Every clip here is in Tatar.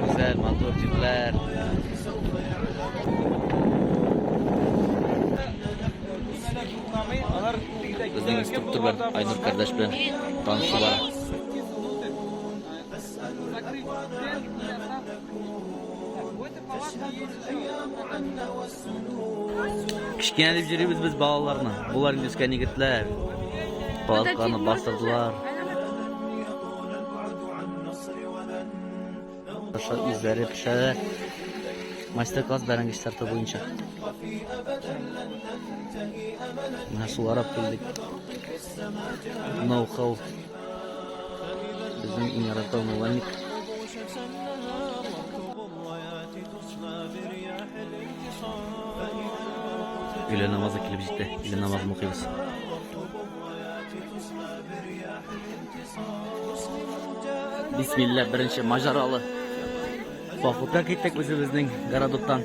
Гүзәл, матур җирләр. Безнең инструктор белән Айнур кардәш белән танышу бар. Кечкенә дип җөрибез без балаларны. Болар инде үскән егетләр. Палатканы бастырдылар. Аша үзләре пешерә. Мастер-класс бәрәңге чистарту буенча. Менә шуларап килдек. Ноу-хау. Безнең иң ярату мулланик. Өйлә намазы килеп җитте. Өйлә намазын укыйбыз. Бисмилла, беренче мажаралы. Походка киттек үзебезнең городоктан.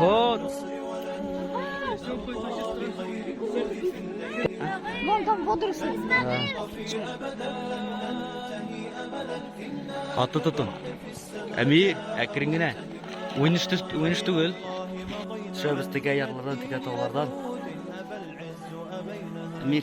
Вот. Вон там водоросли. Хатты тотын. Әми, әкрен генә. Уйныш түгел. Төшәбез тегә ярлардан, тегә таулардан. Әми.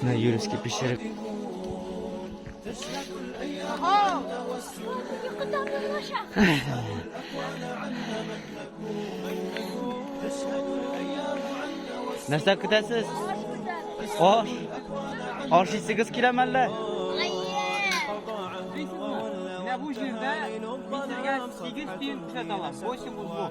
Менә юрецкий пешереп. Нәрсә көтәсез? Аш. Аш исегез киләме әллә? Менә бу җирдә мисергә 8 тиен күрсәтә ала. 8 узлов.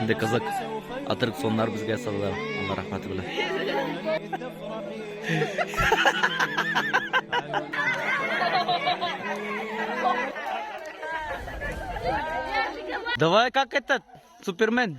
Инде кызык аттракционнар безгә салалар, Алла рәхмәте белән. Давай, как этот, Супермен,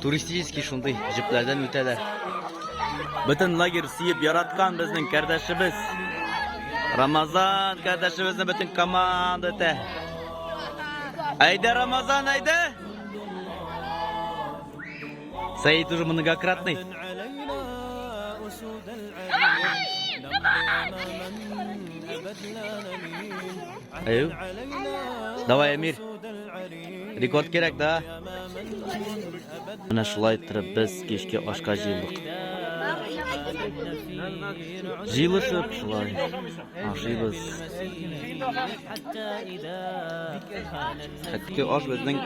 Туристический шундый җепләрдән үтәләр. Бөтен лагерь сөеп яраткан безнең кардәшебез. Рамазан кардәшебезне бөтен команда үтә. Әйдә, Рамазан, әйдә! Сәйд уже многократный. Әйү. Давай, Эмир. Рекорд кирәк, да? Менә шулай иттереп без кичке ашка җыелдык. Җыелышып шулай ашыйбыз. Хәтти аш безнең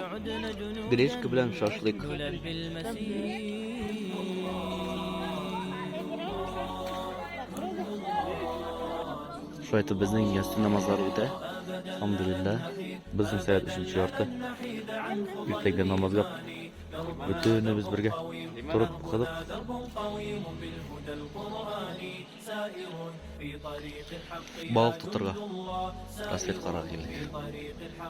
гречка белән шашлык. Шулай итеп безнең ястү намазлары үтә. Алхамдулилла. Безнең сәгать өченче ярты. Иртәгә намазга бөтенебез бергә торып укыдык. Балык тотырга. Рассветкарга килдек.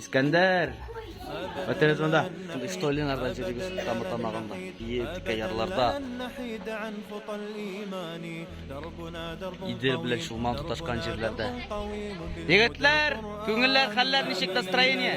Искәндәр! Әтәңез монда, шундый что Ленардан җөрегез тамы тамагында, бие текә ярларда. Идел белән Чулман тоташкан җирләрдә. Егетләр, күңелләр, хәлләр ничек настроение?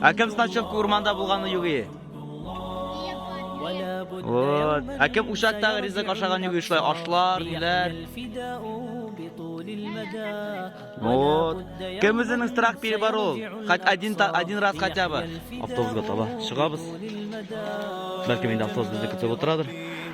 Ә кем значок урманда булганы югы? Вот. Ә кем учактагы ризык ашаган югы шулай ашлар, ниләр? Вот. Кем үзенең страх пире бар ул? Хат один один раз хотя бы. Автобусга таба чыгабыз. Бәлки инде автобус безне көтеп утырадыр.